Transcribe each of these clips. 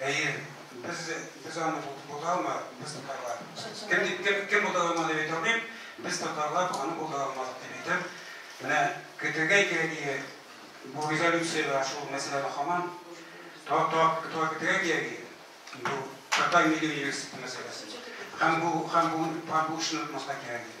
Әйе, без, без аны булдыралмадык, без татарлар. Кем, кем, кем булдыралмады дип әйтәм, без татарлар аны булдыралмадык дип әйтәм. Менә көтергә кирәк иде, бу резолюциядә шул мәсьәләдә хаман, тора, тора, тора көтергә кирәк иде. Бу татар милли университеты мәсьәләсе. Һәм бу, һәм бу, һәм бу эшне отмаска кирәк иде.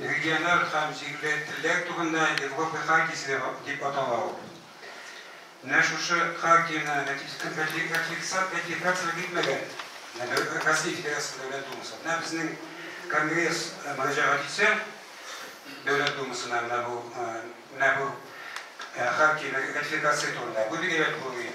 Региональ һәм җирле телләр турында Европа хартиясе дип атала ул. Менә шушы хартияне ратификацияләп бетмәгән Россия Федерациясе Дәүләт Думасы. Менә безнең Конгресс мөрәҗәгать итсә Дәүләт Думасына менә бу, менә бу хартияне ратификация турында, бу бик әйбәт булыр иде.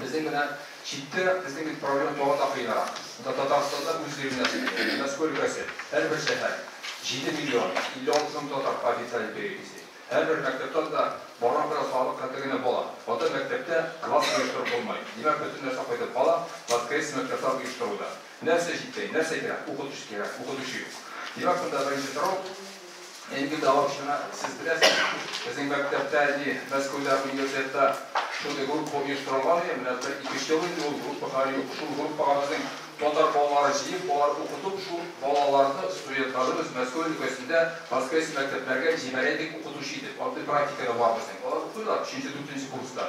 Безнең менә читтә, безнең бит проблема тагын да кыенрак. Монда Татарстанда үз гыйлеменә сөйлиләр. Мәскәү өлкәсе, һәрбер шәһәр, җиде миллион, 56 мең татар по официальной переписи. Һәрбер мәктәптән дә барган кадәр салык хәтле генә бала. Анда мәктәптә класс оештырып булмый. Димәк, бөтен нәрсә кайтып кала, воскресный мәктәпләр оештыруда. Нәрсә җитмәй, нәрсә кирәк? Укытучы кирәк, укытучы юк. Димәк, монда беренче сорау, әлеге дәва очына сез беләсез, безнең мәктәптә әле Мәскәүдә университетта шундый группа оештырылган иде, менә бер ике өч ел инде ул группа хәле юк. Шул группага безнең татар балалары җыеп, алар укытып, шул балаларны, студентларыбыз Мәскәү өлкәсендә воскресный мәктәпләргә җибәрәйдек укытучы итеп. Андый практика да бар безнең. Алар укыйлар, өченче, дүртенче курста.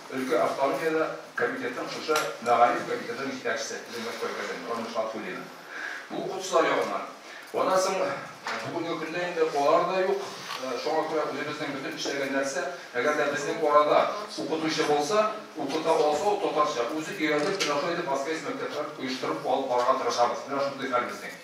Өлкә автономияле комитетның шушы мәгариф комитетының җитәкчесе Зөлмәт Кайгазин, Рамил Шатфуллина. Бу укытучылар ягыннан. Аннан соң бүгенге көндә инде алар да юк. Шуңа күрә үзебезнең бөтен эшләгән нәрсә, әгәр дә безнең арада укытучы булса, укыта алса, ул татарча үзе өйрәнеп, менә шулай итеп Аскаис мәктәпләрен оештырып алып барырга тырышабыз. Менә шундый хәл безнең.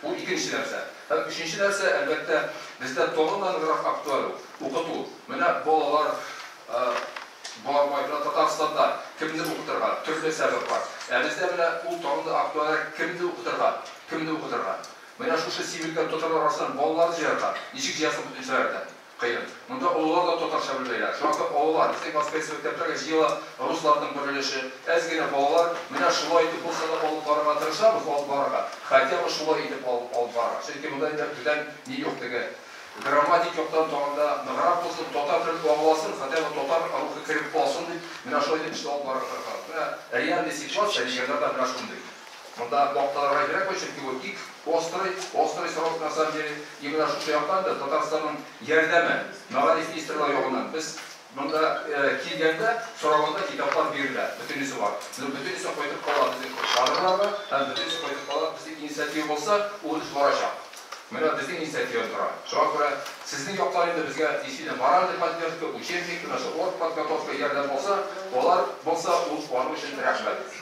Бу икенче нәрсә. Һәм өченче нәрсә, әлбәттә, бездә тагын да ныграк актуаль ул, укыту. Менә балалар бармай тора Татарстанда, кемне укытырга, төрле сәбәп бар. Ә бездә менә ул тагын да актуальрәк, кемне укытырга, кемне укытырга. Менә шушы сибелгән татарлар арасыннан балаларны җыярга, ничек җыярсың бөтен сәгатьтән? Кыен. Монда олылар да татарча белмәйләр. Шуңа күрә олылар, безнең класстагысы мәктәпләргә җыела, русларның бер өлеше, әз генә балалар, менә шулай итеп булса да алып барырга тырышабыз, алып барырга, хотя бы шулай итеп алып алып барырга. Чөнки монда инде түдән ни юк, теге грамматик яктан тагын да ныграк булсын, татар телен аңласын, хотя бы татар рухы кереп калсын дип, менә шулай итеп эшне алып барырга тырышабыз. Менә реальный ситуация, нигәрләрдә менә шундый. Монда макталырга кирәкме, чөнки ул бик острый, острый срок на самом деле. И менә шушы яктан да Татарстанның ярдәме, мәгариф министрлыгы ягыннан без монда килгәндә сораганда китаплар бирелә, бөтенесе бар. Но бөтенесе кайтып кала безнең кадрлар да һәм бөтенесе кайтып кала безнең инициатива булса, ул эш барачак. Менә безнең инициативада тора. Шуңа күрә сезнең яктан инде безгә действительно моральный поддержка, учебник, менә шул оргподготовка ярдәм булса, алар булса, ул аның өчен рәхмәт.